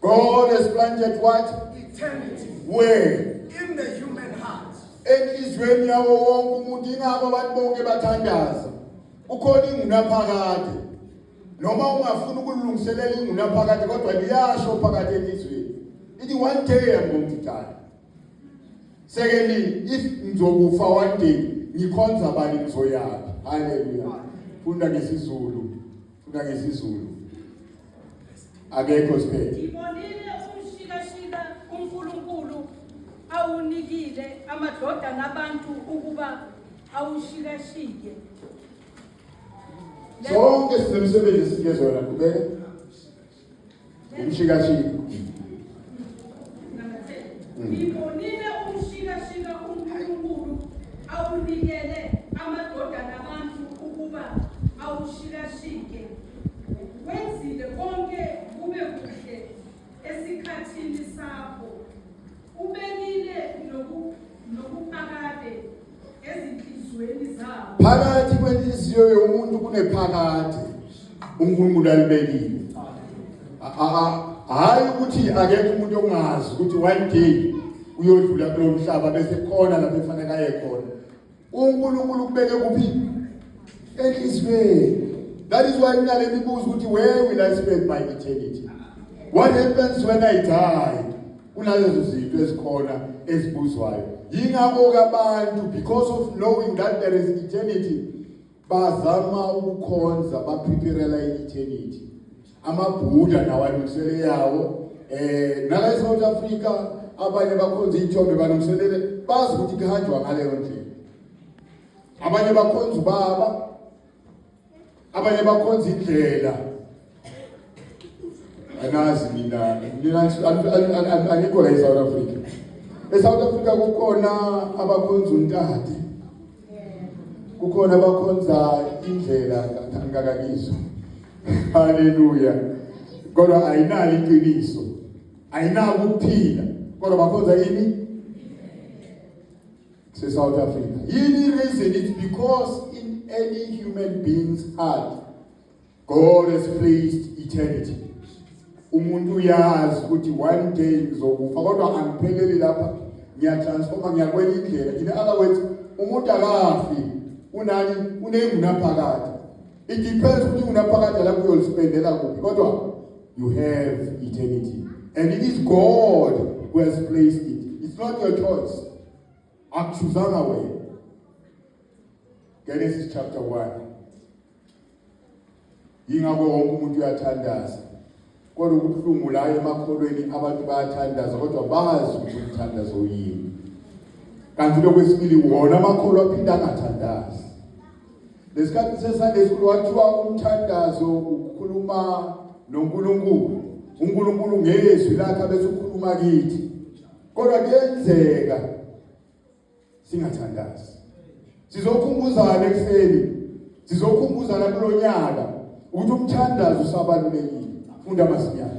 God has planted what? Eternity. Where? In the human heart. Enhlizweni yawo wonke umuntu ingakho abantu bonke bathandaza. Ukhona ingunaphakade. Noma ungafuna ukulungiselela ingunaphakade kodwa liyasho phakathi enhlizweni. Ithi one day I'm going to die. Secondly, if ngizokufa one day ngikhonza bani ngizoyaphi. Hallelujah. Funda ngesizulu. Funda ngesizulu. akekho siphethe ngibonile umshikashika uNkulunkulu awunikile amadoda nabantu ukuba awushikashike sonke sinemsebenzi esikezona kubeka umshikashika Ngibonile umshikashika uNkulunkulu awunikele amadodana abantu ukuba awushikashike. Wenzile konke kube kuhle esikhathini sakho. Ubekile noku phakathi kwenhliziyo yomuntu kunephakade uNkulunkulu alibekile hayi ukuthi akekho umuntu ongazi ukuthi one day uyodlula kulo mhlaba bese khona lapho efanele aye khona uNkulunkulu kubeke kuphi enhliziyweni that is why kunale mibuzo ukuthi where will i spend my eternity what happens when i die kunalezo zinto ezikhona ezibuzwayo yingakho-ke abantu because of knowing that there is eternity bazama ukukhonza baphipherela i-eternity amabhuda nawo alungisele yawo um nala e-south africa abanye bakhonza iy'thombe balungiselele bazi ukuthi kuhanjwa ngaleyo ndlela abanye bakhonza ubaba abanye bakhonza indlela anazi mina angikho la e-south africa e-south africa kukhona abakhonza untati kukhona abakhonza indlela ngakakizwa haleluya kodwa ayinalo iqiniso ayinako ukuphila kodwa bakhonza ini se South Africa yini reason it's because in any human being's heart God has placed eternity umuntu uyazi ukuthi one day ngizokufa kodwa angipheleli lapha ngiyatransforma ngiyakwenye indlela in other words umuntu akafi unani unengunaphakade it depends ukuthi unaphakade lapho uyolispendela kuphi kodwa You have eternity. And it is God who has placed it. It's not your choice. Akuchuzanga wena. Genesis chapter 1. Yingakho wonke umuntu uyathandaza. Kodwa kubuhlungu la emakholweni abantu bayathandaza kodwa bazi ukuthi umthandazo uyini. Kanti lokwesibili wona amakholwa aphinda angathandazi. Lesikhathi seSunday school wathiwa umthandazo ukukhuluma noNkulunkulu. UNkulunkulu ngezwi lakhe abese ukhuluma kithi. Kodwa kuyenzeka singathandazi. Sizokhumbuzana ekuseni. Sizokhumbuzana kulonyaka ukuthi umthandazo usabalulekile. Funda masinyane.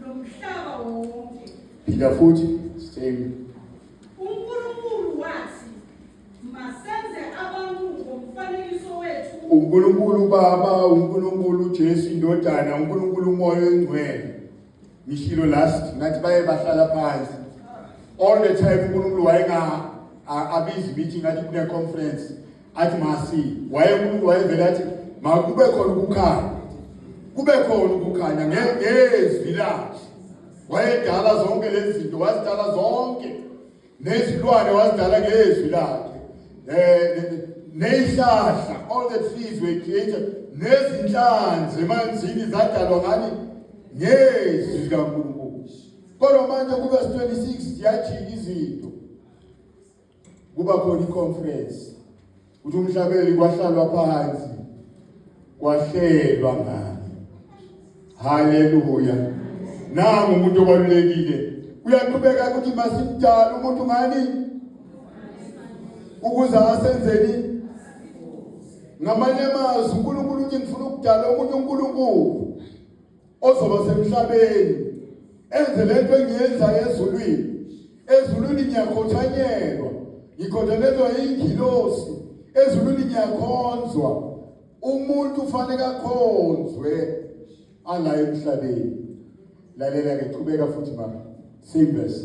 nomhlaba wonke phinda futhi same uNkulunkulu wathi masenze abantu ngomfanekiso wethu uNkulunkulu baba uNkulunkulu Jesu indodana uNkulunkulu umoya oyingcwele ngishilo last ngathi baye bahlala phansi all the time uNkulunkulu wayenga abizi meeting ngathi kune conference athi masi wayemuntu wayevele athi makube khona ukukhanya kube khona ukukhanya ngezwi lakhe wayedala zonke lezi zinto wazidala zonke nezilwane wazidala ngezwi lakhe um neyihlahla all the trees were created nezinhlanzi emanzini zadalwa ngani ngezwi likankulunkulu kodwa manje kuve-26 ziyajika izinto kuba khona iconference ukuthi umhlabeli kwahlalwa phansi kwahlelwa ngani haleluya nangu umuntu obalulekile uyaqhubeka ukuthi masimdala umuntu ngani ukuze asenzeni ngamanye amazwi unkulunkulu uthi ngifuna ukudala omunye unkulunkulu ozoba semhlabeni enze le nto engiyenzayo ezulwini ezulwini ngiyakhothanyelwa ngikhothanelwa yingilosi ezulwini ngiyakhonzwa umuntu ufanele akhonzwe ala emhlabeni lalela-ke qhubeka futhi mama same verse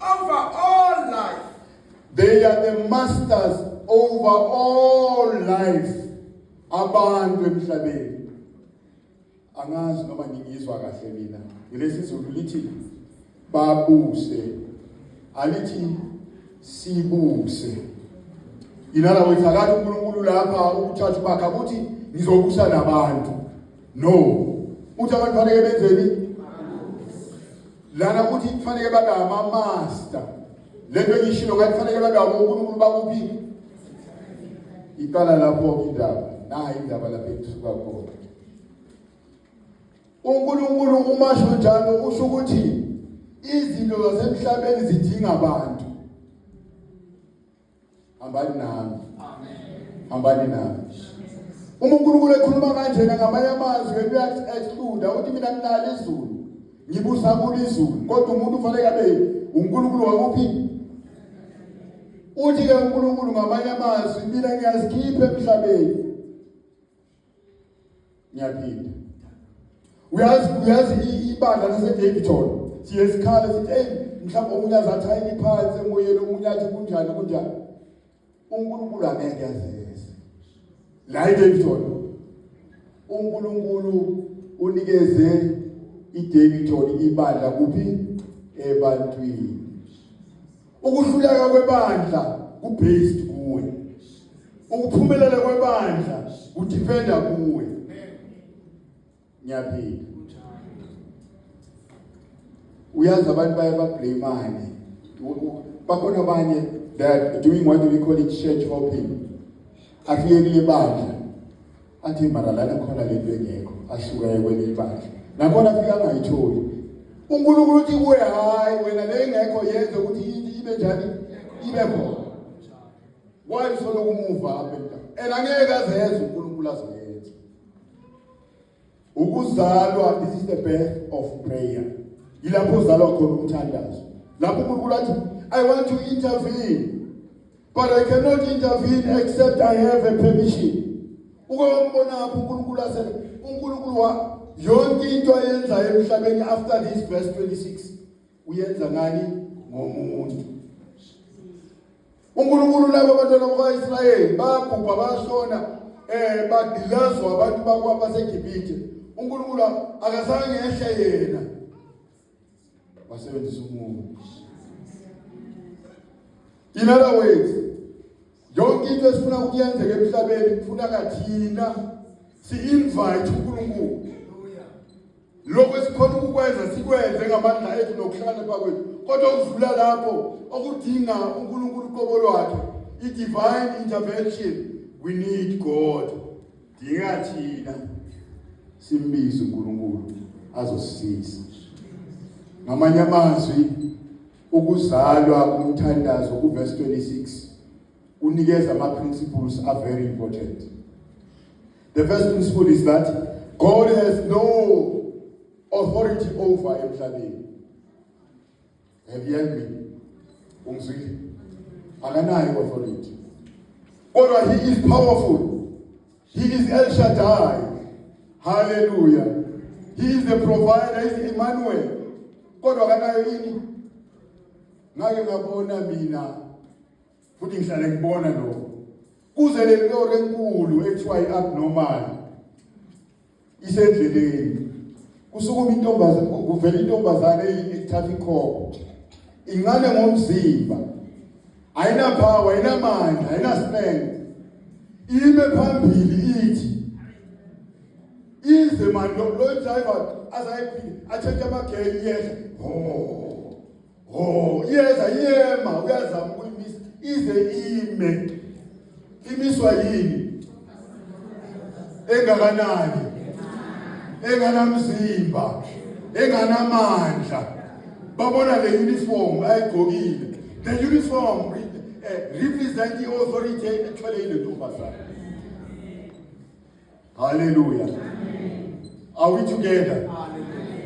over all life. They are the masters over all life. Abantu emhlabeni. Angazi noma ngingizwa kahle mina. Lesi Zulu lithi babuse. Alithi sibuse. Yinala wethu akathi uNkulunkulu lapha ukuthatha bakhe ukuthi ngizobusa nabantu. no uthi abantu fanele benzeni lana uthi kufanele babe amamaster lento engishilo ngathi kufanele babe abonkulunkulu bakuphi iqala lapho-ke indaba naha indaba lapho ekusuka khona unkulunkulu umasho njalo usho ukuthi izinto zasemhlabeni zidinga abantu hambani nami hambani nami uma unkulunkulu ekhuluma kanjena ngamanye amazwi when you act exclude awuthi mina nginalo izulu ngibusa kulo izulu kodwa umuntu ufanele abe unkulunkulu wakuphi uthi-ke unkulunkulu ngamanye amazwi mina ngiyazikhipha emhlabeni ngiyaphinda uyazi uyazi ibandla laseDavidton siye sikhala sithi hey mhlawumbe omunye azathi ayini phansi emoyeni omunye athi kunjani kunjani uNkulunkulu angeke azeze la iDavidton uNkulunkulu unikeze iDavidton ibandla kuphi ebantwini Ukuhluleka kwebandla kubased kuwe. Ukuphumelela kwebandla kudependa kuwe. Ngiyaphila. Uyazi abantu baye bablamane. Bakhona abanye that doing what we call it church hopping. Afike kule bandla athi mara lana khona lento engekho ashukaye kwenye ibandla nakhona afika angayitholi unkulunkulu uthi kuwe hhayi wena le engekho yenze ukuthi ibe njani ibe khona wayisoloku umuva apha and angeke azezwe unkulunkulu azoyenza ukuzalwa this is the birth of prayer yilapho uzalwa khona umthandazo lapho uNkulunkulu athi i want to intervene but i cannot intervene except i have a permission uke wambona apho uNkulunkulu asele uNkulunkulu wa yonke into ayenzayo emhlabeni after this verse 26 uyenza ngani ngomuntu uNkulunkulu laba bantwana bakwaIsrayeli babhubha bashona eh badilazwa abantu bakwaba seGibhithe uNkulunkulu akazange ngehle yena wasebenzisa umuntu in other words Yonke into esifuna ukuyenzeka emhlabeni kufuna kathina si-invite uNkulunkulu. Lokho esikhona ukukwenza sikwenze ngamandla ethu nokuhlala kwethu. Kodwa ukudlula lapho okudinga uNkulunkulu qobo lwakhe i-divine intervention we need God. Dinga thina simbize uNkulunkulu azosisiza. Ngamanye amazwi Ukuzalwa kumthandazo kuverse 26 unikeza ama principles are very important. The first principle is that God has no authority over emhlabeni. Have you heard me? Ungizwile? Akanayo authority. Kodwa he is powerful. He is El Shaddai. Hallelujah. He is the provider, he is Emmanuel. Kodwa kanayo yini? Ngake ngabona mina futhi ngihlale ngibona lokho. Kuze le lori enkulu ekuthiwa i-abnormal isendleleni kusukuma intombazane kuvela intombazane ithatha ikhombo incane ngomzimba ayinapower ayinamandla ayinaspend ime phambili ithi ize manje lo driver azayiphinde athethe amageli yehla oh Oh, iyeza yema uyazama ukuyimisa ize ime. Imiswa yini? Engakanani? Enganamzimba, enganamandla. Babona le uniform ayigqokile. The uniform eh, represent the authority ethwele ile ntombazana. Hallelujah. Are we together?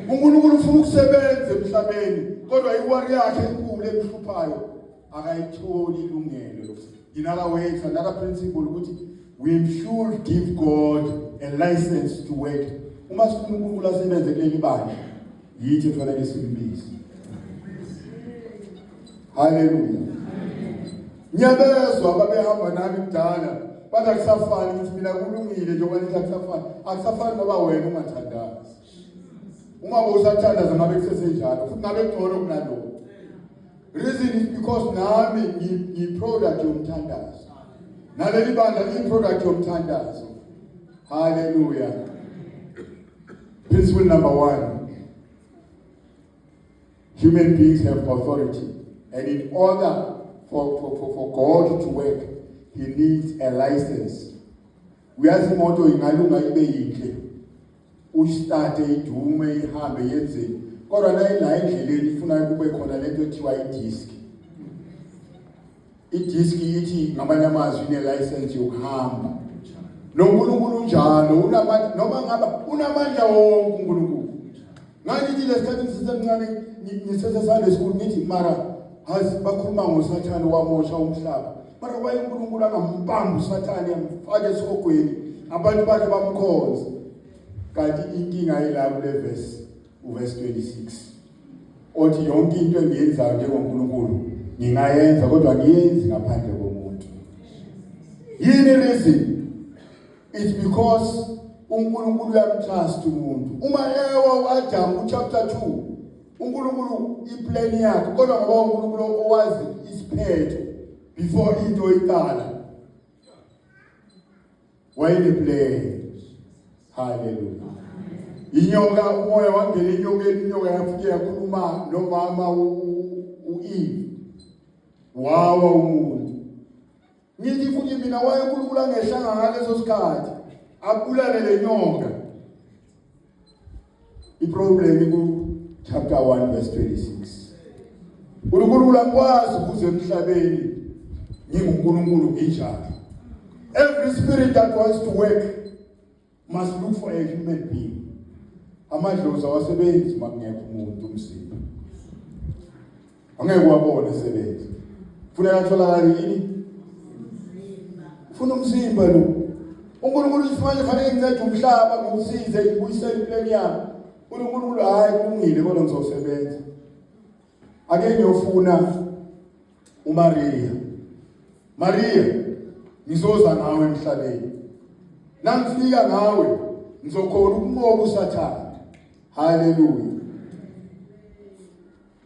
uNkulunkulu ufuna ukusebenza emhlabeni kodwa iwari yakhe enkulu emhluphayo akayitholi ilungelo lokusebenza in other words, another principle ukuthi we should give God a license to work. Uma sifuna uNkulunkulu asebenze kuleli bandla yithi fanele simbize haleluya ngiyabezwa babehamba nami kudala bathi akusafani ukuthi mina kulungile njengoba nithi akusafani akusafani ngoba wena ungathandazi uma usathandaza ngabe kusesenjalo futhi ngabe kungcono kunalokho reason is because nami ngiyiproduct yomthandazo naleli bandla liyiproduct yomthandazo haleluya Principle number one human beings have authority, and in order for, for, for, for God to work, he needs a license. uyazi imoto ingalunga ibe yinhle uyistarte idume ihambe yenzeni kodwa nayila endleleni ifuna kube khona lento ethiwa idiski Idiski ithi ngamanye amazwi inelayisensi yokuhamba. NoNkulunkulu unjalo, unabantu noma ngaba unamandla wonke uNkulunkulu. Ngangithi lesikhathi sisemncane ngisesesande esikhulu ngithi mara hazi bakhuluma ngoSathane wamosha umhlaba. Mara waye uNkulunkulu angambamba uSathane amfake esihogweni abantu bakhe bamkhonze. Kanti inkinga yilabo levesi Uverse 26 othi yonke into engiyenzayo njengoNkulunkulu ngingayenza kodwa ngiyenzi ngaphandle komuntu. Yini reason? It's because uNkulunkulu uyamtrust umuntu. Uma ewa uAdam kuchapter 2 uNkulunkulu iplan yakhe kodwa ngoba uNkulunkulu owazi isiphetho before into iqala wayine plan haleluya inyoka umoya wangena enyokeni inyoka yafike yakhuluma nomama u-eve wawa umuntu ngithi futhi mina wayekulula ngehlanga ngaleso sikhathi abulale le nyoka iproblem iku chapter 1 verse 26 uNkulunkulu uyakwazi ukuze emhlabeni nginguNkulunkulu nginjalo every spirit that wants to work must look for a human being amadlozi awasebenzi makungekho umuntu umzimba angeke wabona isebenzi funeka atholakale yini funa umzimba lo uNkulunkulu usimanje fanele incede umhlaba ngomsize ibuyisele impilo yakhe uNkulunkulu hayi kulungile kodwa ngizosebenza ake ngiyofuna uMaria Maria ngizoza ngawe emhlabeni nangifika ngawe ngizokhona ukunqoba usathane haleluya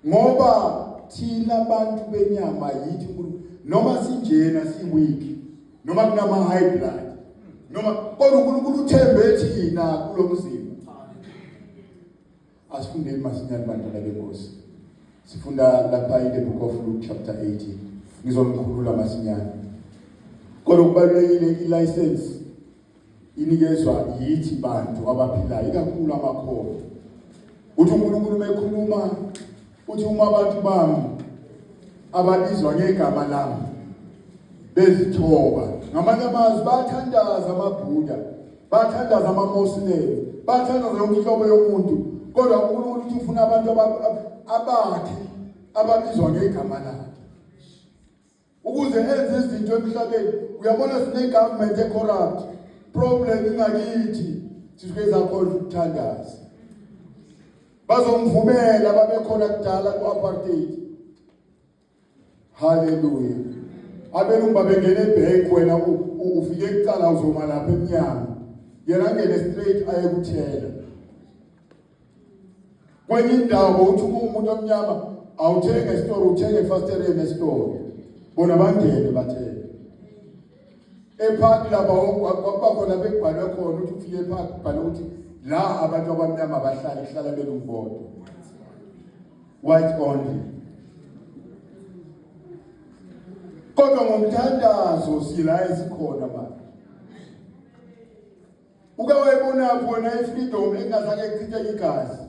ngoba thina bantu benyama yithi uNkulunkulu noma sinjena siweak noma kunama high blood noma kodwa uNkulunkulu uthembe thina kulomzimba asifundeni masinyane bantwana benkosi sifunda lapha in the book of Luke chapter 18 ngizomkhulula masinyane kodwa kubalulekile i license inikezwa yithi bantu abaphilayo ikakhulu amakhono uthi uNkulunkulu mekhuluma uthi uma abantu bami ababizwa ngegama lami bezithoba ngamanye amazwi bathandaza amabhuda bathandaza amamoslem bathandaza yonke inhlobo yomuntu kodwa uNkulunkulu uthi ufuna abantu abakhe ababizwa ngegama lakhe ukuze enze izinto emhlabeni uyabona sine-government ecorrupt problem ingakithi sisuke zakhona ukuthandaza bazomvumela babekhona kudala ku-apartheid haleluya abelungu babengena ebhenki wena ufike kuqala uzoma lapha emnyango yena angene straight aye kuthela kwenye indawo uthi uma umuntu omnyama awuthenge esitolo uthenge efasteleni esitolo bona bangene bathenge ephaki lapha kwakuba khona bekubhalwe khona ukuthi ufike ephaki kubhalwe ukuthi la abantu abamnyama bahlale kuhlala belumvoto white only kodwa ngomthandazo sila esikhona manje uke wayibonaphi wena ifreedom engazange echithe igazi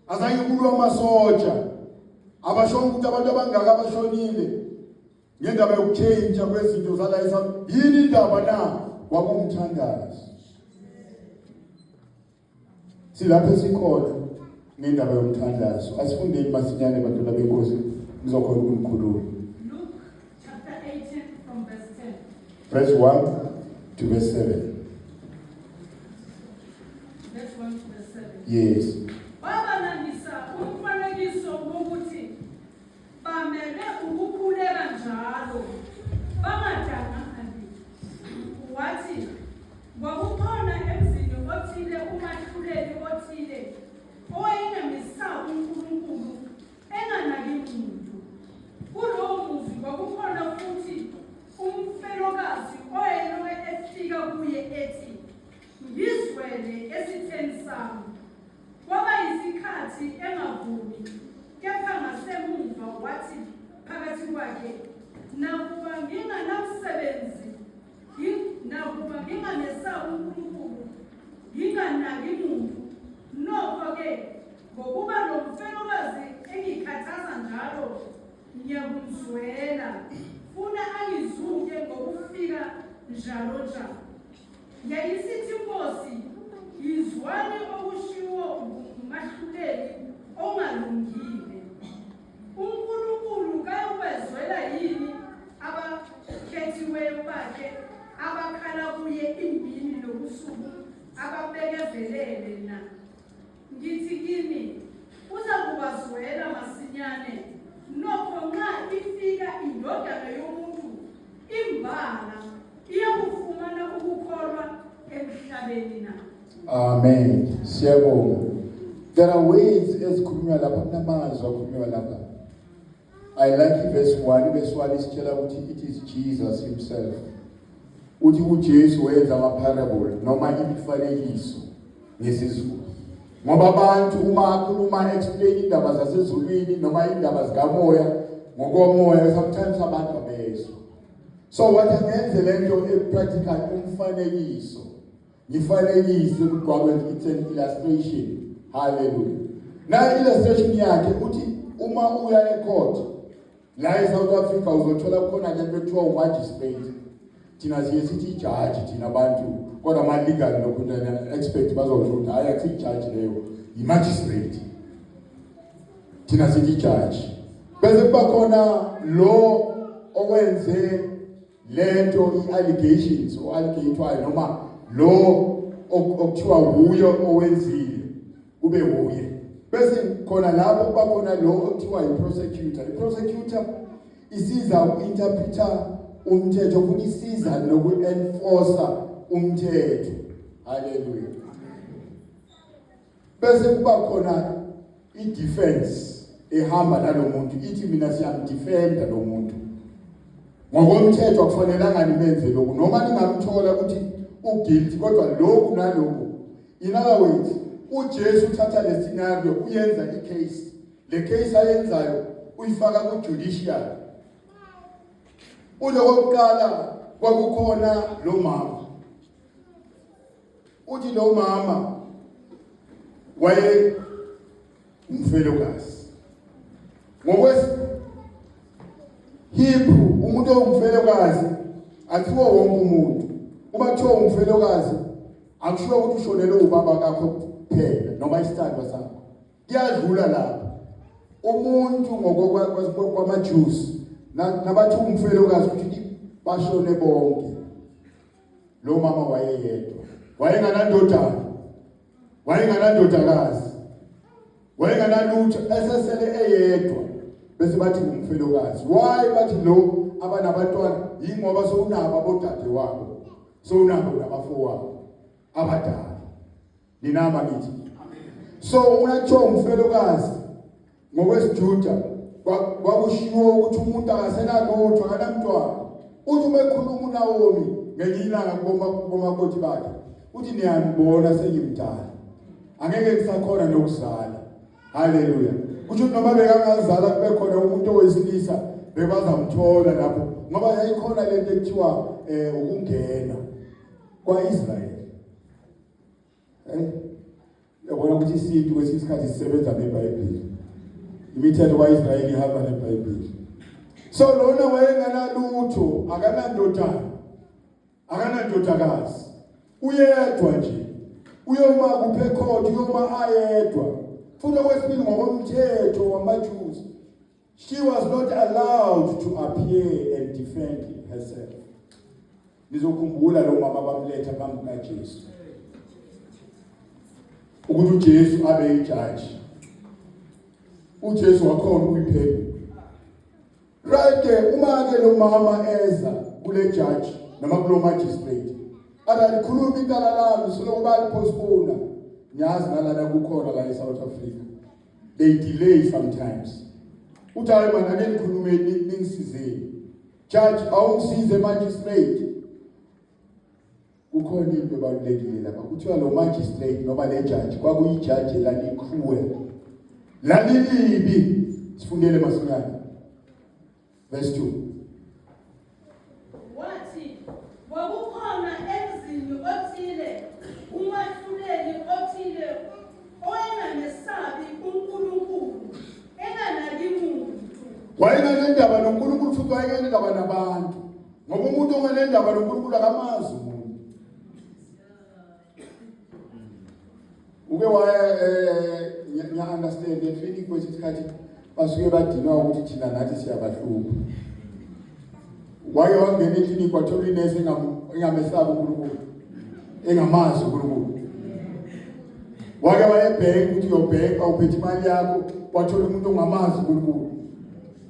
azange kulwa amasotsha abashonga ukuthi abantu abangaka abashonile ngendaba yokutshentsha kwezinto zala eSouth yini indaba na wakumthandazi silapho sikhona ngendaba yomthandazo asifundeni masinyane bantwana benkosi nizokhona ukumkhulula verse 1 to verse 7 yes Bamele ukukhuleka njalo bangadangani. Wathi kwakukhona emzini othile umahluleli othile owayengamisa uNkulunkulu enganaki muntu. Kulowo muzi kwakukhona futhi umfelokazi oyeloke efika kuye ethi ngizwele esitheni sami Kwaba yisikhathi engavumi, kepha ngasemuva wathi phakathi kwakhe, Nakuba nginganamsebenzi, nakuba ngingamesabi uNkulunkulu, nginganaki muntu, nokho-ke ngokuba lo mfelokazi engikhathaza njalo ngiyakumzwela funa angizuke ngokufika njalo njalo Yayisithi inkosi yizwani okushiwo ngumahluleli ongalungile. UNkulunkulu kayobezwela yini abakhethiweyo bakhe abakhala kuye imbini nobusuku ababekezelele na? Ngithi kini uza kubazwela masinyane nokho nxa ifika indodana yomuntu imbala iyakufumana ukukholwa emhlabeni na amen siyabonga there are ways ezikhulunywa lapha kunamazwi akhulunywa lapha I like verse 1 verse 1 isitshela ukuthi it is Jesus himself uthi uJesu wenza ama parable noma imifanekiso ngesizulu ngoba abantu uma akhuluma explain indaba zasezulwini noma indaba zikamoya ngokomoya sometimes abantu abezwa so wathi angenze lento epractical umfanekiso ngifanekise kugwalo itheni illustration haleluya na illustration yakhe uthi uma uya ecourt la eSouth Africa uzothola khona lento ekuthiwa umagistrate thina siye sithi ijaji thina abantu kodwa ama legal lokhu njena expert bazosho ukuthi hayi akuthi ijaji leyo yimagistrate thina sithi ijaji bese kuba khona lo owenze lento i-allegations o-allegate-wayo noma lo okuthiwa wuyo owenzile kube wuye bese khona lapho kuba khona lo okuthiwa yi-prosecutor i-prosecutor isiza uku-interpreta umthetho futhi isiza noku-enforcer umthetho haleluya bese kuba khona i-defense ehamba nalo muntu ithi mina siyamdefenda lo muntu ngokomthetho akufanelanga nimenze lokhu noma ningamthola ukuthi uguilty kodwa lokhu nalokhu in other words ujesu uthatha le scenario uyenza i-case le case ayenzayo uyifaka ku-judicial ulokokuqala kwakukhona lo mama uthi lo mama waye umfelokazi ngokwes Hebrew umuntu ongumfelokazi akuthiwa wonke umuntu uma kuthiwa umfelokazi akushiwo ukuthi ushonelwe ubaba kakho kuphela noma isithandwa sakho kuyadlula lapho umuntu ngokwamajusi nabathi umfelokazi ukuthi bashone bonke Lo mama wayeyedwa. Wayenganandodana. Wayenganandodakazi. Wayenganalutho esesele eyedwa. Bese bathi ngumfelokazi. Why bathi lo abanabantwana yingoba sowunabo abodade wabo. Sowunabo nabafowabo abadala. Ninama kithi. So uyatsho umfelokazi ngokwesijuda kwakushiwo ukuthi umuntu akasenalutho akanamntwana. Uthi uma ekhuluma uNawomi ngenye ilanga kuboma kubomakoti bakhe uthi niyangibona sengimdala. Angeke ngisakhona nokuzala. Haleluya. Kusho ukuthi noma bekangazala kube khona umuntu owesilisa bebazamthola lapho ngoba yayikhona lento ekuthiwa eh ukungena kwaIsrael yabona ukuthi isintu kwesinye isikhathi sisebenza nebhayibheli imithetho kwaisrayeli ihamba nebhayibheli so lona wayenganalutho akanandodana akanandodakazi uyedwa nje uyoma kuphe khodi uyoma ayedwa futhi okwesibili ngokomthetho wamajuzi She was not allowed to appear and defend herself. Nizokhumbula lo mama bamletha phambi kaJesu. Ukuthi uJesu abe yijaji. UJesu wakhona ukuyiphendula. Right there uma ke lo mama eza kule judge noma kulo magistrate. Akalikhulumi icala lami sinokuba lipostpone. Ngiyazi nalana kukhona la eSouth Africa. they delay sometimes uthi hayi manje ake ngikhulumeni ningisizeni judge awungisize magistrate kukhona into ebalulekile lapha kuthiwa lo magistrate noma le judge kwakuyijaji elalikuwe lalilibi sifundele masinyane Verse 2. Wathi kwakukhona emzini othile umahluleli othile owayengamesabi uNkulunkulu enganaki muntu. Wayenganendaba noNkulunkulu futhi wayengendaba nabantu. Ngoba umuntu onganendaba noNkulunkulu akamazi umuntu. uke waya um ngiya-understand efika ikwethi isikhathi basuke badinwa ukuthi thina nathi siyabahlupha wake wangena eklinikhi wathola inesi engamesabi unkulunkulu engamazi unkulunkulu wake wayebheka ukuthi uyobheka uphethe imali yakho wathola umuntu ongamazi unkulunkulu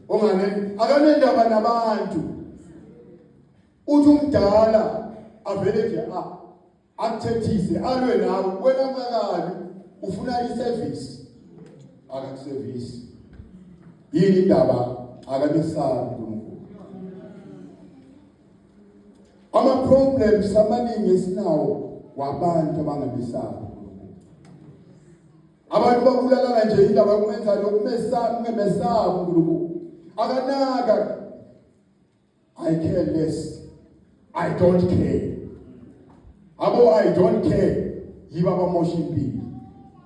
ongane akanendaba nabantu uthi umdala avele nje a akuthethise alwe nawe wena makali ufuna iservice akakuservice yini indaba akabesabi uNkulunkulu ama problems amaningi esinawo wabantu abangabesabi abantu bakulalana nje indaba yokumenza lokumesabi ungemesabi uNkulunkulu akanaka I care less. I don't care. Abo I don't care. Yiba bamoshi impilo.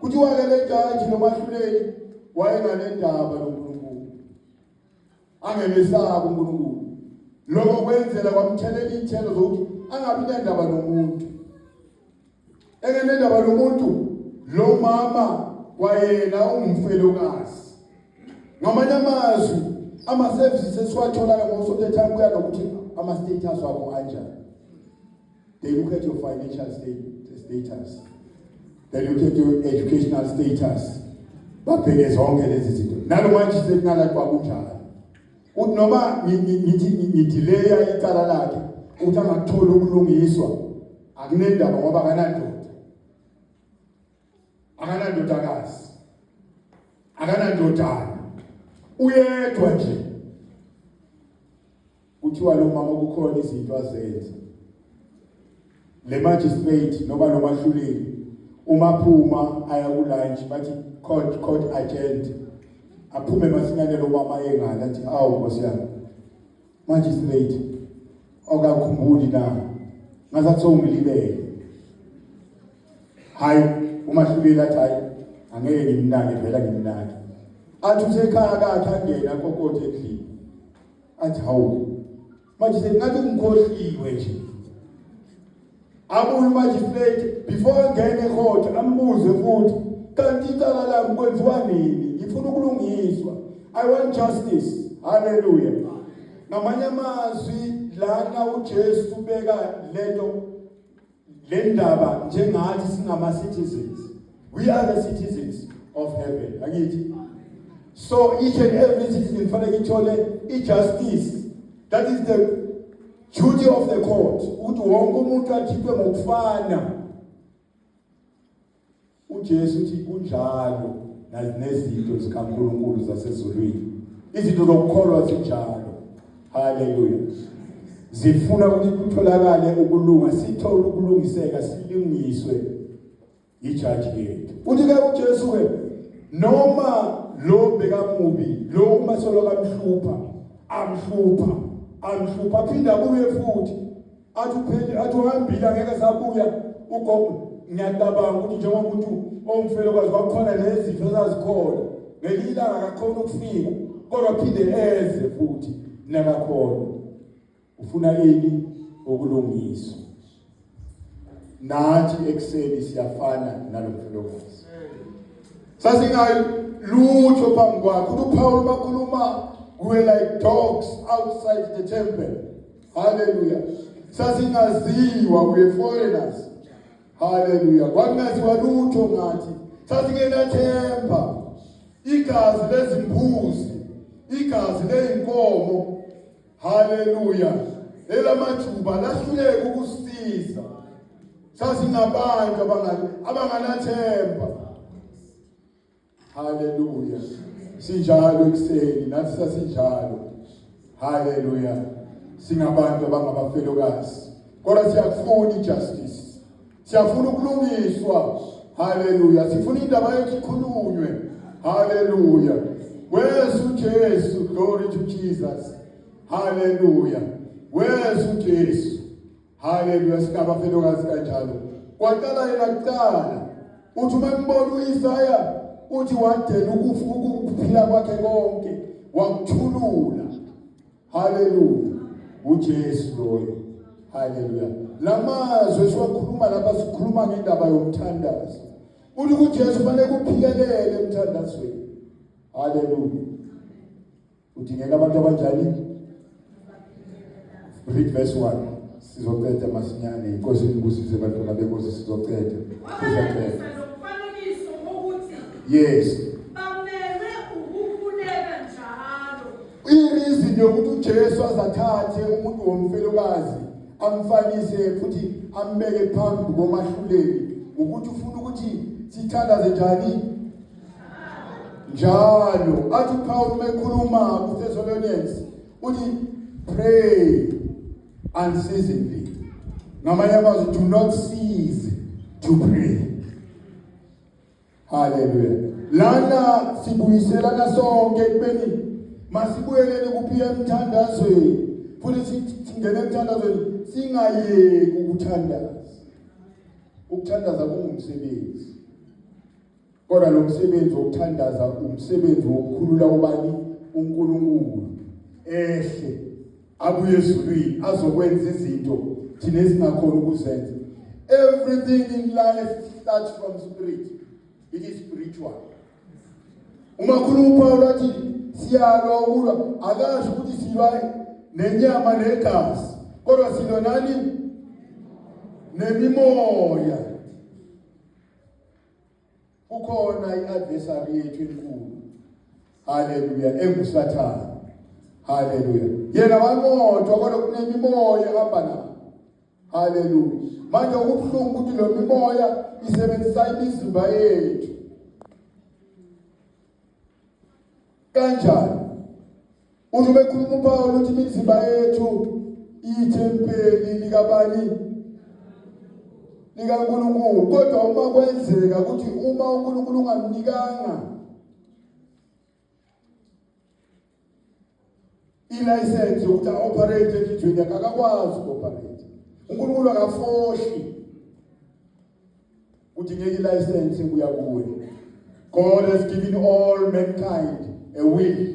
Kuthi wakele jaji nomahluleli wayenganendaba noNkulunkulu. Angelisaba uNkulunkulu. Lokho kwenzela kwamthelela ithelo zokuthi angabi nendaba nomuntu. engenendaba nomuntu lo mama kwayena ungumfelokazi ngamanye amazwi ama-services esiwatholayo ngosotethayo kuya nokuthi ama-status wakho anjani they look at your financial state, status they look at your educational status babheke zonke lezi zinto nalo manje sekunala kwakunjalo uthi noma ngithi ngidileya icala lakhe uthi angathola ukulungiswa akunendaba ngoba akanandoda akanandodakazi akanandodana uyedwa nje kuthiwa lo mama kukhona izinto azenza le magistrate noma lo mahluleli uma phuma aya kulunch bathi court court agent aphume masinyane lo mama engani athi awu nkosi yami magistrate okakhumbuli na ngazathi ungilibele hayi umahluleli athi hayi angeke ngimnake vela ngimnake athi usekhaya kakhe angena kokothe endlini athi hawu manje sengathi umkhohliwe nje abuye umajistrate before angene ecourt ambuze futhi kanti icala lami kwenziwa nini ngifuna ukulungiswa i want justice haleluya ngamanye amazwi lana ujesu ubeka lento Le ndaba njengathi singama citizens we are the citizens of heaven angithi so each and every citizen kufanele ithole i-justice that is the duty of the court ukuthi wonke umuntu athintwe ngokufana uJesu uthi kunjalo nezinto zikaNkulunkulu zasezulwini izinto zokukholwa zinjalo haleluya zifuna ukuthi kutholakale ukulunga sithole ukulungiseka silungiswe ijaji yethu uthi ke uJesu ke noma lo bekamubi lo uma solo kamhlupha amhlupha amhlupha aphinda kuye futhi athi uphele athi uhambile angeke sabuya ugogo ngiyacabanga ukuthi njengomuntu owumfelokazi kwakukhona nezifo ezazikhona ngelinye ilanga akakhona ukufika kodwa phinde eze futhi nakakhona ufuna yini ukulungiswa nathi ekuseni siyafana nalomfelokazi sasingayo lutho phambi kwakhe uPaul bakhuluma we like dogs outside the temple Haleluya. Sasingaziwa we foreigners. Haleluya. Kwakungaziwa lutho ngathi. Sasingenathemba. Igazi lezimbuzi, igazi leyinkomo. Haleluya. Elamajuba lahluleka ukusiza. Sasingabantu abanganathemba. Haleluya. Sinjalo ekuseni nathi sasinjalo. Haleluya. Singabantu abangabafelokazi. Kodwa siyakufuna ijustice. Siyafuna ukulungiswa. Haleluya. Sifuna indaba yethu ikhulunywe. Haleluya. Where's uJesu? Glory to Jesus. Haleluya. Where's uJesu? Haleluya sigaba felokazi kanjalo. Kwaqala yena kuqala. Uthi uma kumbona uIsaya uthi wadela ukufa ukuphila kwakhe konke wakuthulula. Haleluya. UJesu loyo. Haleluya. Lamazwi esiwakhuluma lapha sikhuluma ngendaba yomthandazo. Uthi kuJesu fanele kuphikelele emthandazweni. Haleluya. Udingeka abantu abanjani? Read verse 1. Sizoceda masinyane inkosi ibusise abantu ngabenkosi sizoceda. Sizoceda. Yes. Bamele ukukhuleka njalo. Ireason yokuthi uJesu azathathe umuntu womfelokazi amfanise futhi ambeke phambi komahluleli ukuthi ufuna ukuthi sithandaze njani njalo athi uPaul mekhuluma kuThessalonians uthi pray unceasingly ngamanye amazwi do not cease to pray haleluya lana sibuyiselana sonke ekubeni masibuyeleni kuphila emthandazweni futhi singene emthandazweni singayeki ukuthandaza ukuthandaza kungumsebenzi Kodwa lo msebenzi wokuthandaza umsebenzi wokukhulula ubani uNkulunkulu ehle abuye ezulwini azokwenza izinto thina esingakhona ukuzenza everything in life starts from spirit it is spiritual uma khuluma uPawulu athi siyalwa ukulwa akasho ukuthi silwa nenyama negazi kodwa silwa nani nemimoya Kukhona i-adversary yethu enkulu. Haleluya, enguSathane. Haleluya. Yena wamoto kodwa kunemimoya ehamba nayo. Haleluya. Manje okubuhlungu ukuthi lo mimoya isebenzisa imizimba yethu. kanjani uthi bekhuluma uPawulu ukuthi imizimba yethu iyithempeli likabani likaNkulunkulu kodwa uma kwenzeka ukuthi uma uNkulunkulu ungamnikanga ilayisensi yokuthi a-operate enhlizweni yakhe akakwazi uku-operate unkulunkulu akafohli ukuthi ngeke ilayisensi kuya kuwe god has given all mankind a will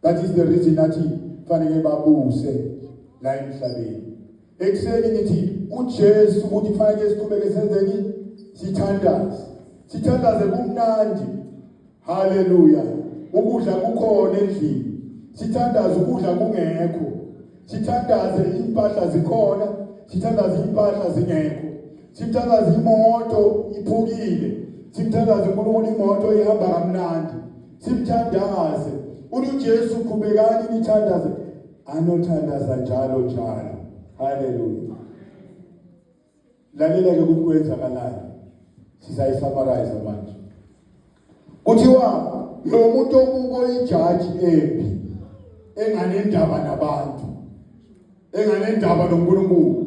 that is the reason athi kufanele babuse la emhlabeni ekuseni ngithi uJesu ukuthi fanele siqhubeke senzeni sithandaze sithandaze kumnandi haleluya ukudla kukhona endlini sithandaze ukudla kungekho sithandaze impahla zikhona sithandaze impahla zingekho sithandaze imoto iphukile sithandaze uNkulunkulu imoto ihamba kamnandi simthandaze uthi uJesu qhubekani nithandaze anothandaza njalo njalo haleluya lalela ke ukuthi kwenzakalayo sisayisamarize manje kuthiwa lo muntu okubo ijaji embi enganendaba nabantu enganendaba noNkulunkulu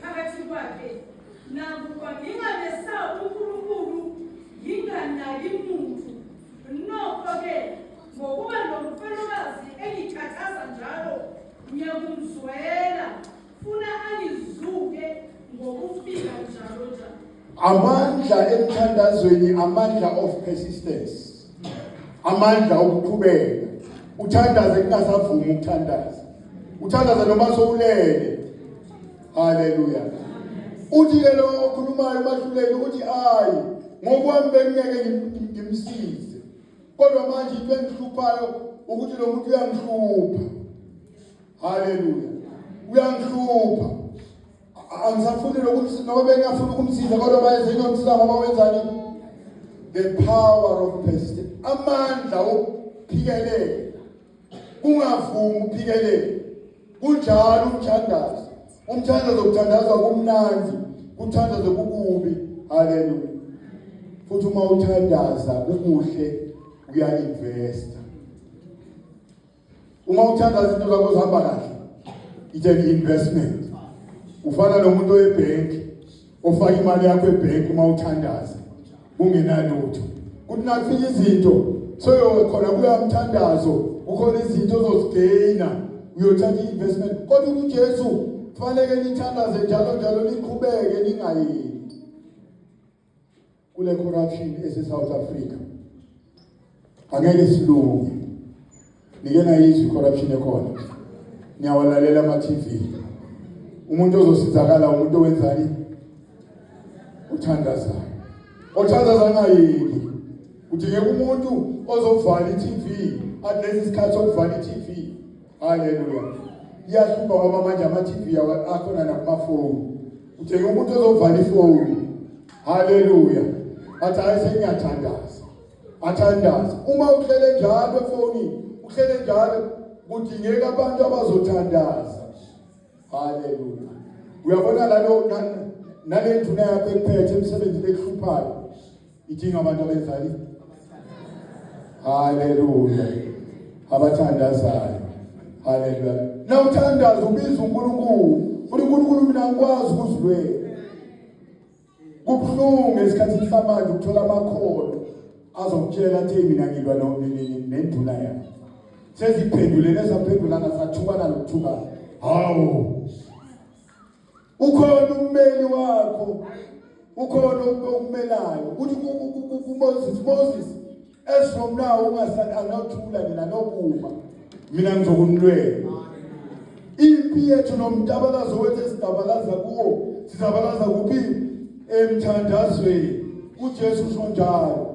phakathi kwakhe nakuba ngingamesabi uNkulunkulu nginganaki muntu nokho-ke ngokuba nomfelokazi engikhathaza njalo ngiyakumzwela funa angizuke ngokufika njalo njalo Amandla emthandazweni amandla of persistence. Amandla okuqhubeka. Uthandaze kungasavumi ukuthandaza. Uthandaza noma sowulele. Haleluya. Uthi ke lo okhulumayo bahlulele ukuthi ayi ngokwami bengeke ngimsize. Kodwa manje into engihluphayo ukuthi lo muntu uyangihlupha. haleluya uyangihlupha angisafuni lokumsiza noma bengingafuni ukumsiza kodwa bayenze into yomsiza ngoba wenzani the power of persistence amandla okuphikelela kungavumi ukuphikelela kunjalo umthandazo umthandazo kuthandazwa kumnandi kuthandazo kukubi haleluya futhi uma uthandaza kukuhle uyainvesta uma uthanda izinto zakho zihamba kahle it's an investment ufana nomuntu oyebhenki ofaka imali yakho ebhenki uma uthandaza kungenalutho kuthi nakufika izinto soyokhona kuloya mthandazo kukhona izinto ozozigeyina uyothatha i-investment kodwa ujesu kufanele nithandaze njalo njalo niqhubeke ningayeki kule corruption ese South Africa angeke silunge nike nayizwe corruption ekhona niyawalalela ama TV umuntu ozosizakala umuntu owenzani uthandaza othandaza ngayini udinge umuntu ozovala iTV akulesi sikhathi okuvala iTV haleluya iyahlupa ngoba manje ama TV akhona nakumafoni Udinga umuntu ozovala ifoni. Haleluya. Athi hayi sengiyathandaza. Athandaza. Uma uhlele njalo efoni, uhlele njalo kudingeka abantu abazothandaza. Haleluya. Uyabona lalo nalenduna yakho ekuphethe emsebenzini ekuhluphayo. idinga abantu abenzani haleluya abathandazayo haleluya nawuthandaza ubiza uNkulunkulu futhi uNkulunkulu mina ngikwazi ukuzilwela kubuhlungu esikhathini samanje ukuthola amakhono azokutshela athi mina ngilwa nenduna yami seziphendulene saphendulana sathukana lokuthukana hawu ukhona ummeli wakho ukhona okumelayo uthi kuMoses Moses as from now ungasani anothula mina nokuba mina ngizokunilwela impi yethu nomtabalazo wethu esidabalaza kuwo sizabalaza kuphi emthandazweni uJesu usho njalo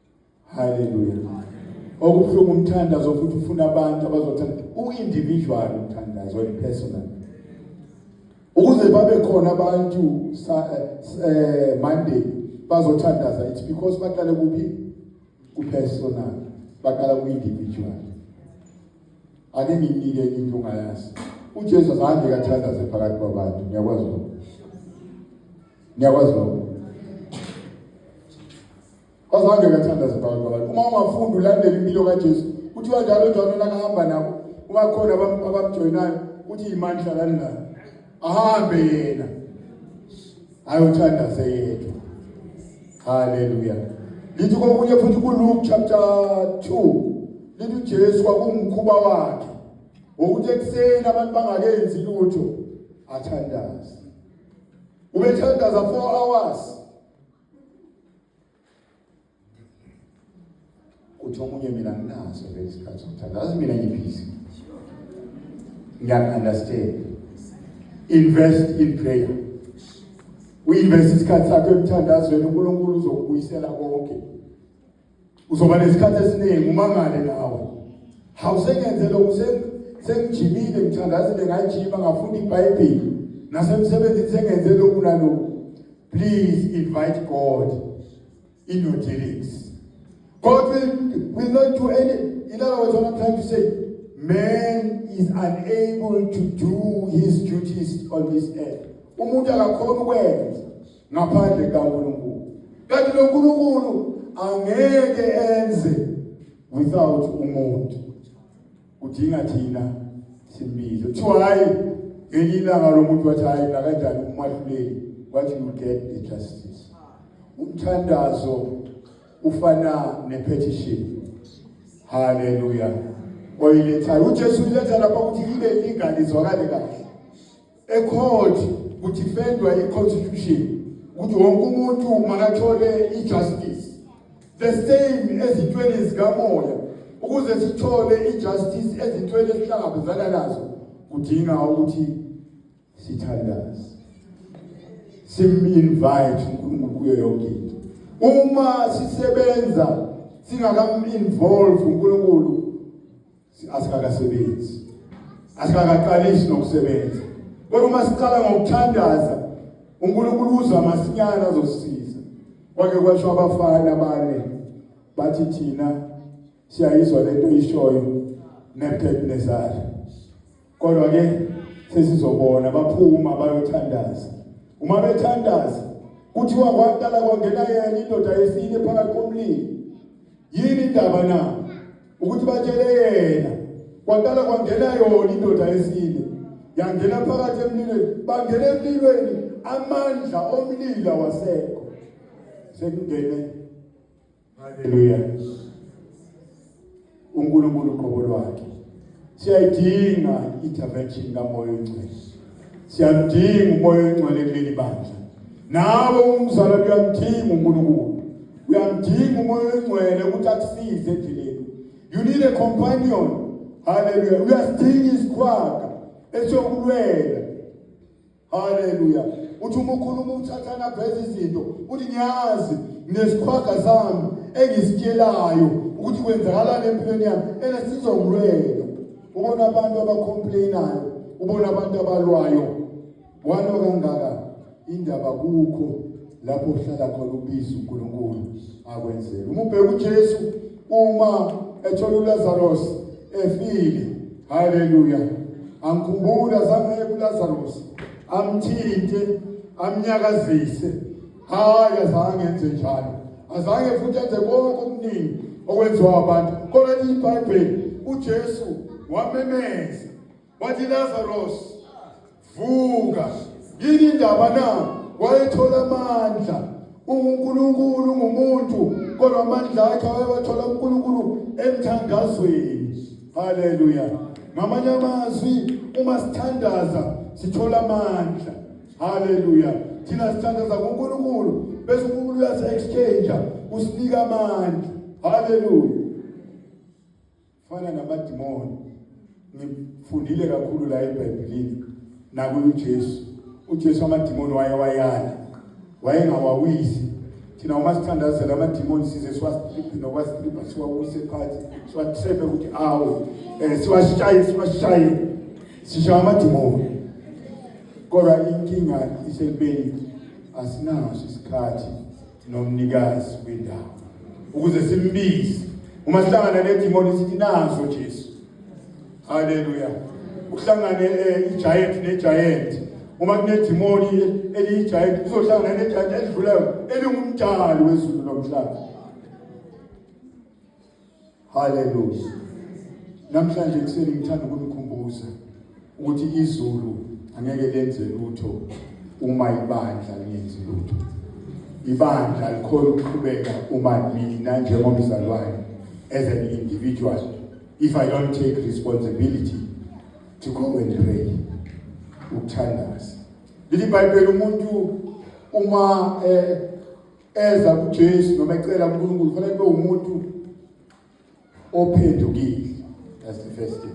haleluya okubuhlungu umthandazo futhi ufuna abantu abazothanda u-individual umthandazo and personal ukuze babe khona abantu eh, eh, monday bazothandaza it's because baqale kuphi ku-personal baqala ku-individual ake nginike enye into ongayazi ujesu azange kathandaze phakathi kwabantu ngiyakwazi lokho ngiyakwazi lokho Kwazange ngathandaza baba baba. Uma ungafunda ulandele impilo kaJesu, uthi kanjalo njalo nakahamba nabo. Uma khona abamjoyinayo, uthi imani hlalani la. Ahambe yena. Ayothandaza yedwa. Hallelujah. Lithi kokunye futhi kuLuke chapter 2 lithi uJesu kwakumkhuba wakhe ngokuthi ekuseni abantu bangakenzi lutho athandaze. Ubethandaza 4 hours kuthi omunye mina nginaso vele isikhathi sokuthanda azi mina ngiphisi ngiyaku-understand invest in prayer uinvest isikhathi sakho emthandazweni unkulunkulu uzokubuyisela konke uzoba nesikhathi esiningi umangale nawe hawu sengenze lokhu sengijimile ngithandazile ngajima ngafunda ibhayibheli nasemsebenzini sengenze lokhu nalokhu please invite god in your dealings god will, will not do any in other words what i'm trying to say man is unable to do his duties on this earth umuntu akakhona ukwenza ngaphandle kaNkulunkulu kanti lo Nkulunkulu angeke enze without umuntu udinga thina simbize kuthiwa hayi ngenye ilanga lo muntu wathi hayi nakanjani umahluleli wathi you get the justice umthandazo ufana nepetition haleluya oyilethayo ujesu uletha lapha ukuthi ibe ingane izwakale kahle ecourt kudefendwa i-constitution ukuthi wonke umuntu makathole i-justice the same ezintweni zikamoya ukuze sithole i-justice ezintweni esihlangabezana nazo kudinga ukuthi sithandaze sim-invite unkulunkulu kuyo yonke into uma sisebenza singakam-involve unkulunkulu asikakasebenzi asikakaqalisi nokusebenza kodwa uma siqala ngokuthandaza uNkulunkulu uza masinyana azosisiza kwake kwasho abafana abane bathi thina siyayizwa lento ishoyo Nebuchadnezzar kodwa ke sesizobona baphuma bayothandaza uma bethandaza kuthiwa kwaqala kwangena yena indoda yesine phakathi komlilo yini indaba na ukuthi batshele yena kwaqala kwangena yona indoda yesine yangena phakathi emlilweni bangena emlilweni amandla omlilo wasekho sekungene Haleluya. UNkulunkulu uqobo lwakhe. Siyayidinga intervention kaMoya oNgcwele. Siyadinga uMoya oNgcwele kuleli bandla. Nawe umzala uyamdinga uNkulunkulu. Uyamdinga uMoya oNgcwele ukuthi akusize endleleni. You need a companion. Haleluya. Uyasidinga isikhwaka esiyokulwela Haleluya. Uthi uma ukhuluma ukuthathana veza izinto, uthi ngiyazi nesikhwaga sami engisitshelayo ukuthi kwenzakalani empilweni yami ena sizongilwela. Ubona abantu abacomplainayo, ubona abantu abalwayo. Walo kangaka indaba kukho lapho uhlala khona ubiza uNkulunkulu akwenzele uma ubheka uJesu uma ethola uLazarus efile haleluya angikhumbula zange ekuLazarus amthinte amnyakazise hayi azange enze njalo azange futhi enze konke okuningi okwenziwa abantu kodwa ibhayibheli uJesu wamemeza wathi Lazarus vuka yini indaba na wayethola amandla uNkulunkulu ngumuntu kodwa amandla akhe wayewathola uNkulunkulu emthandazweni haleluya ngamanye amazwi uma sithandaza sithola amandla haleluya thina sithandaza kuNkulunkulu bese uNkulunkulu uyase exchange usinika amandla haleluya fana namadimoni ngifundile kakhulu la ebhayibhilini nakuye ujesu ujesu amadimoni wayewayala wayengawawisi thina uma sithandazela amadimoni size siwastriphe nokwastripha siwawise phansi siwathembe ukuthi awu um siwashaye siwashaye sishaya amadimoni kodwa inkinga isekubeni asinaso isikhathi nomnikazi wendawo ukuze simbize uma sihlangana nedimoni sithi nazo Jesu haleluya uhlangane eh, igiant negiant uma kunedimoni eliyigiant kuzohlangana negiant elidlulayo elingumdali wezulu nomhlaba Hallelujah. Namhlanje kuseni ngithanda ukunikhumbuza ukuthi izulu angeke lenze lutho uma ibandla lingenzi lutho. Ibandla likhona ukuqhubeka uma mina njengomzalwane as an individual if I don't take responsibility to go and pray ukuthandaza. Lili Bible umuntu uma eh, eza kuJesu noma ecela uNkulunkulu kufanele kube umuntu ophendukile as the first step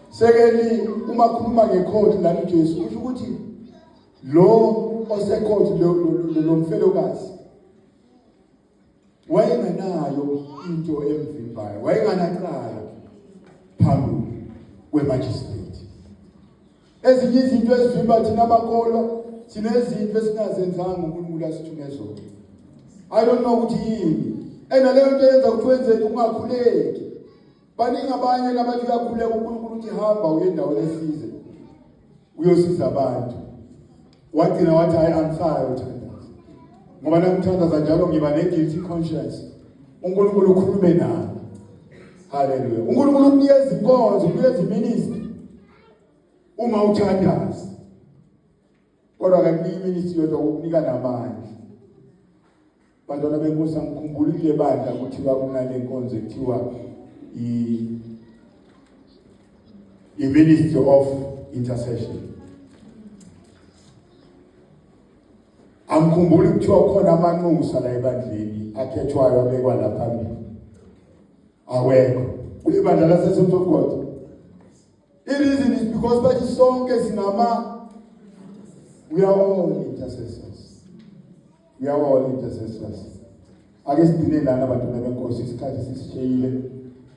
sekeli uma khuluma ngekhodi la uJesu usho ukuthi lo osekhodi lo mfelokazi wayengenayo into emvimbayo wayenganacala phambi kwemajistrate Ezinye izinto ezivimba thina bakholwa sinezinto esingazenzanga uNkulunkulu asithume zona. I don't know ukuthi yini. Ena leyo nto yenza ukuthi wenzeke ungakhuleki. Baningi abanye labathi uyakhuleka uNkulunkulu uthi hamba uye endaweni esize. Uyosiza abantu. Wagcina wathi hayi angisayo uthandaza. Ngoba namthandaza njalo ngiba ne guilty conscience. uNkulunkulu ukhulume nami haleluya uNkulunkulu unikeza inkonzo unikeza iministry uma uthandaza kodwa kaningi minisi yodwa ukunika namandla bantwana benkosi angikhumbuli kule bandla ukuthi bakunale nkonzo ekuthiwa i-ministry of intercession angikhumbuli kuthiwa khona amanxusa la ebandleni akhethwayo abekwa la phambili awekho kule bandla laseSouth of God I-reason is because bathi sonke singama we are all intercessors we are all intercessors ake sigcine lana abantwana benkosi isikhathi sisishiyile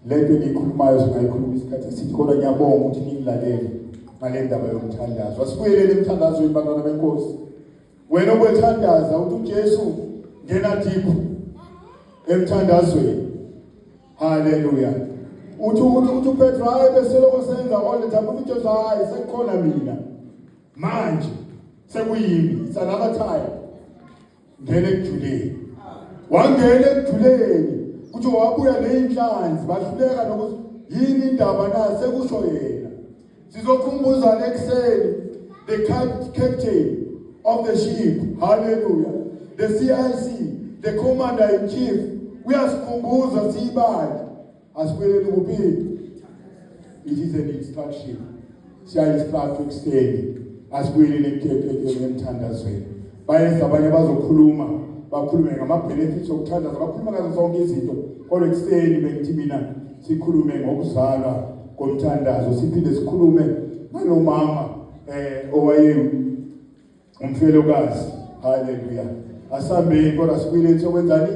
lento engiyikhulumayo singayikhuluma isikhathi esithi kodwa ngiyabonga ukuthi ningilalele ngale ndaba yomthandazo asibuyelele emthandazweni bantwana benkosi wena okwethandaza uthi ujesu ngena deep emthandazweni Haleluya. Uthi uthi uthi uPetru hayi besoloko senza all the time uthi Jesu hayi sekukhona mina. Manje sekuyimi salaba thaya. Ngene kujuleni. Wangena ekujuleni uthi wabuya nezinhlanzi bahluleka nokuthi yini indaba na sekusho yena. Sizokhumbuza nekuseni the captain of the ship. Hallelujah. The CIC, the commander in chief. Uyasikhumbuza siyibali. Asibuyeleni kuphi? It is an instruction. Siyayistrata ekuseni. Asibuyeleni ekuthethekeni emthandazweni. bayeza abanye bazokhuluma bakhulume ngama-benefits okuthandaza bakhuluma ngazo zonke izinto kodwa ekuseni bengithi mina sikhulume ngokuzalwa komthandazo siphinde sikhulume ngalo mama eh owaye umfelokazi haleluya asambeni kodwa sikwile sokwenzani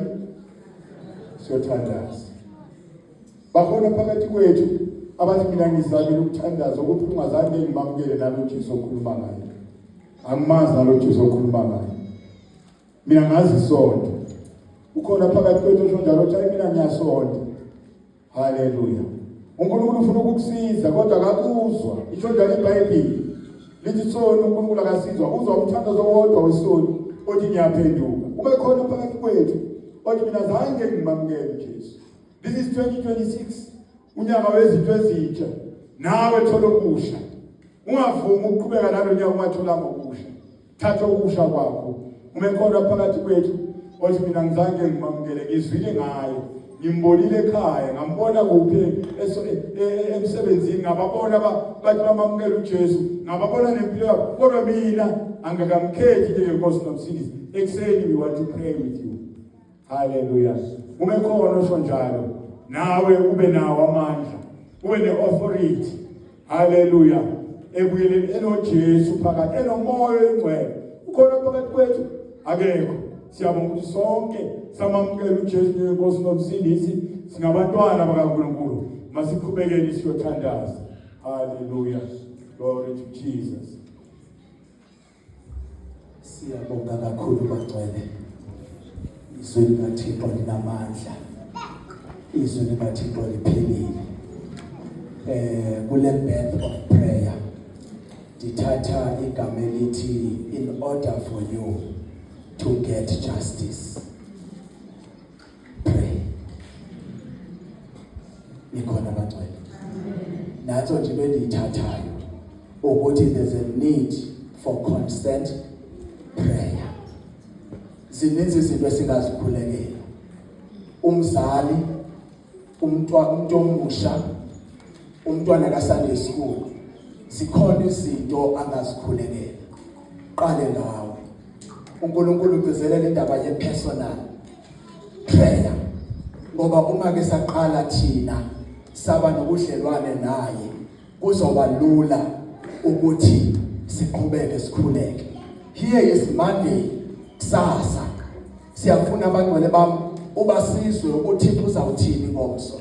siyothandaza bakhona phakathi kwethu abathi mina ngizamile ukuthandaza ukuthi ungazange ngibamukele nalo Jesu okhuluma ngaye angimazi nalo Jesu okhuluma ngaye mina ngazi isonto ukhona phakathi kwethu osho njalo ukuthi hayi mina ngiyasonta haleluya unkulunkulu ufuna ukukusiza kodwa akakuzwa isho njalo ibhayibhile lithi sona unkulunkulu akasizwa uzwa umthandazo wodwa wesoni othi ngiyaphenduka kube khona phakathi kwethu othi mina zange ngimamukele jesu This is 2026 unyaka wezinto ezintsha nawe thola okusha ungavumi ukuqhubeka nalo nyaka ungatholanga okusha thatha okusha kwakho uma ekhona phakathi kwethu othi mina ngizange ngimamukele ngizwile ngayo ngimbonile ekhaya ngambona kuphi e, e, emsebenzini ngababona bathi bamamukela uJesu ngababona nempilo yabo kodwa mina angakamkhethi njengenkosi nomsindisi ekuseni we want to pray with you Haleluya. Uma ekhona osho njalo, nawe ube nawo amandla, ube ne-authority. Haleluya. Ekuyeleni enoJesu phakathi, enomoya oyingcwele. Ukhona phakathi kwethu? Akekho. Siyabonga ukuthi sonke samamukela uJesu njengenkosi nomsindisi, singabantwana bakaNkulunkulu. Masiqhubekeni siyothandaza. Haleluya. Glory to Jesus. Siyabonga kakhulu bangcwele. Izwi likaThixo linamandla. Izwi likaThixo liphilile. Eh kule bed of prayer ndithatha igama elithi in order for you to get justice. ikhona abangcwele natso nje bendiyithathayo ukuthi there's a need for constant prayer zininzi izinto esingazikhulekela umzali umntwana umuntu omusha umntwana kasale school zikhona izinto angazikhulekela qale ngawe uNkulunkulu ugcizelela indaba yepersonal phela ngoba uma ke saqala thina saba nobudlelwane naye kuzoba lula ukuthi siqhubeke sikhuleke here is monday kusasa siyafuna abangcwele bami ubasizwe uthixo uzawuthini ngomso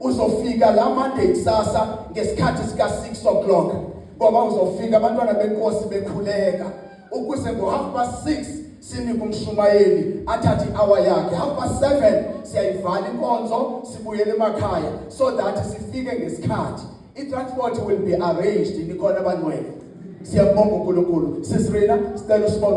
uzofika la Monday kusasa ngesikhathi sika 6 o'clock ngoba uzofika abantwana benkosi bekhuleka ukuze ngo half past 6 sinike umshumayeli athathe i-hour yakhe half past 7 siyayivala inkonzo sibuyele emakhaya so that sifike ngesikhathi i-transport will be arranged nikhona abangcwele siyabonga uNkulunkulu sisirina sicela usibonge